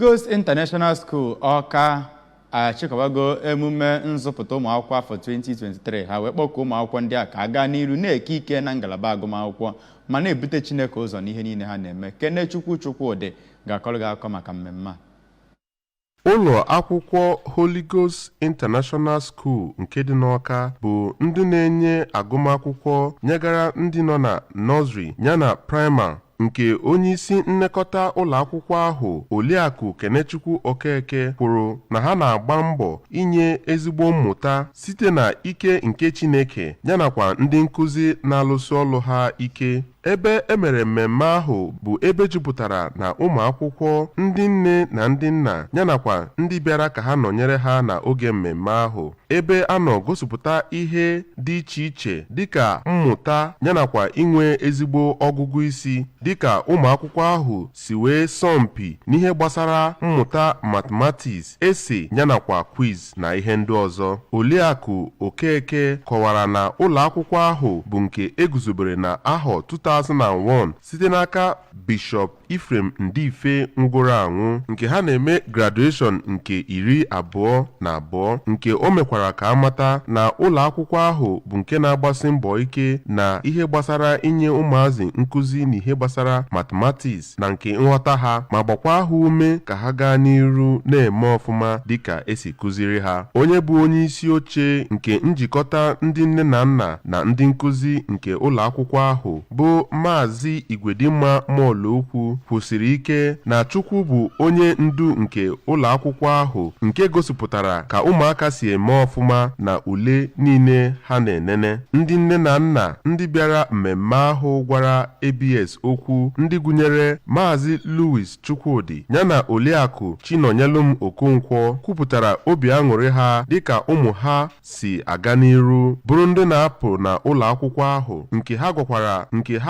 Ghost International School Ọka achịkọbago emume nzụpụta ụmụakwụkwọ afọ 2023 ha wee kpọkuo ụmụakwụkwọ ndị a ka ha gaa n'iru na-eke ike na ngalaba agụmakwụkwọ ma na-ebute Chineke ụzọ n'ihe niile ha na-eme Kenechukwu Chukwudị ga-akọrọ gị akụkọ maka mmemme a ụlọ akwụkwọ Holy Ghost International School nke dị n'Ọka bụ ndị na-enye agụmakwụkwọ nyegara ndị nọ na nọzri yana praịma nke onyeisi nnekọta ụlọ akwụkwọ ahụ Oliakụ Kenechukwu Okeke kwuru na ha na-agba mbọ inye ezigbo mmụta site na ike nke Chineke yanakwa ndị nkụzi na-alụsi ọlụ ha ike ebe emere mmemme ahụ bụ ebe jupụtara na ụmụ akwụkwọ ndị nne na ndị nna yanakwa ndị bịara ka ha nọnyere ha na oge mmemme ahụ ebe a nọ gosipụta ihe dị iche iche dịka mmụta yanakwa inwe ezigbo ọgụgụ isi dịka ụmụ akwụkwọ ahụ si wee sọmpi n'ihe gbasara mmụta mathematics essay yanakwa quiz na ihe ndị ọzọ Oliakụ Okeke kọwara na ụlọ akwụkwọ ahụ bụ nke eguzobere na ahọ 2001 site n'aka Bishọp Ephraim Ndife nwụgoro anwụ nke ha na-eme graduation nke iri abụọ na abụọ nke o mekwara ka amata na ụlọ akwụkwọ ahụ bụ nke na-agbasi mbọ ike na ihe gbasara inye ụmụazị nkụzi na ihe gbasara mathematics na nke nghọta ha ma gbakwa ha ume ka ha gaa n'iru na-eme ọfụma dịka esi kụziri ha onye bụ onye isi oche nke njikọta ndị nne na nna na ndị nkụzi nke ụlọ akwụkwọ ahụ bụ Maazị Igwedimma Mọlụokwu kwusiri ike na Chukwu bụ onye ndu nke ụlọ akwụkwọ ahụ nke gosipụtara ka ụmụaka si eme ọfụma na ule niile ha na-enene ndị nne na nna ndị bịara mmemme ahụ gwara ABS okwu ndị gụnyere Maazị Louis Chukwudi yana Oliakụ Chinonyelum Okonkwo kwupụtara obi aṅụrị ha dịka ụmụ ha si aga n'iru bụrụ ndị na-apụ na ụlọ akwụkwọ ahụ nke ha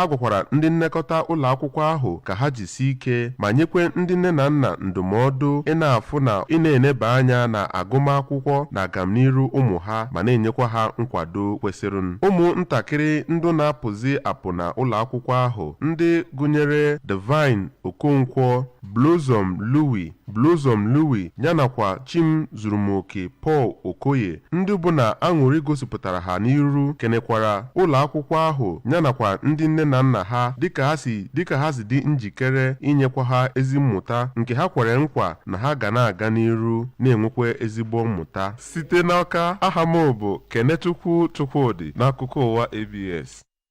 gwakwara ndị nnekọta ụlọ akwụkwọ ahụ ka ha jisi ike ma nyekwa ndị nne na nna ndụmọdụ ị na-afụ na ị na-eneba anya na agụmakwụkwọ na agamniru ụmụ ha ma na-enyekwa ha nkwado kwesịrị ụmụ ntakịrị ndị na-apụzi apụ na ụlọ akwụkwọ ahụ ndị gụnyere Divine Okonkwo Blossom Louis Blossom Louis ya nakwa Chimzurumoke Paul Okoye ndị bụ na aṅụrị gosipụtara ha n'iru kenekwara ụlọ akwụkwọ ahụ ya nakwa ndị nne na nna ha dịka ha si dị njikere inyekwa ha ezi mmụta nke ha kwere nkwa na ha ga na-aga n'iru na-enwekwa ezigbo mmụta site n'Ọka aha m bụ Kenechukwu Chukwudị n'akụkọ ụwa ABS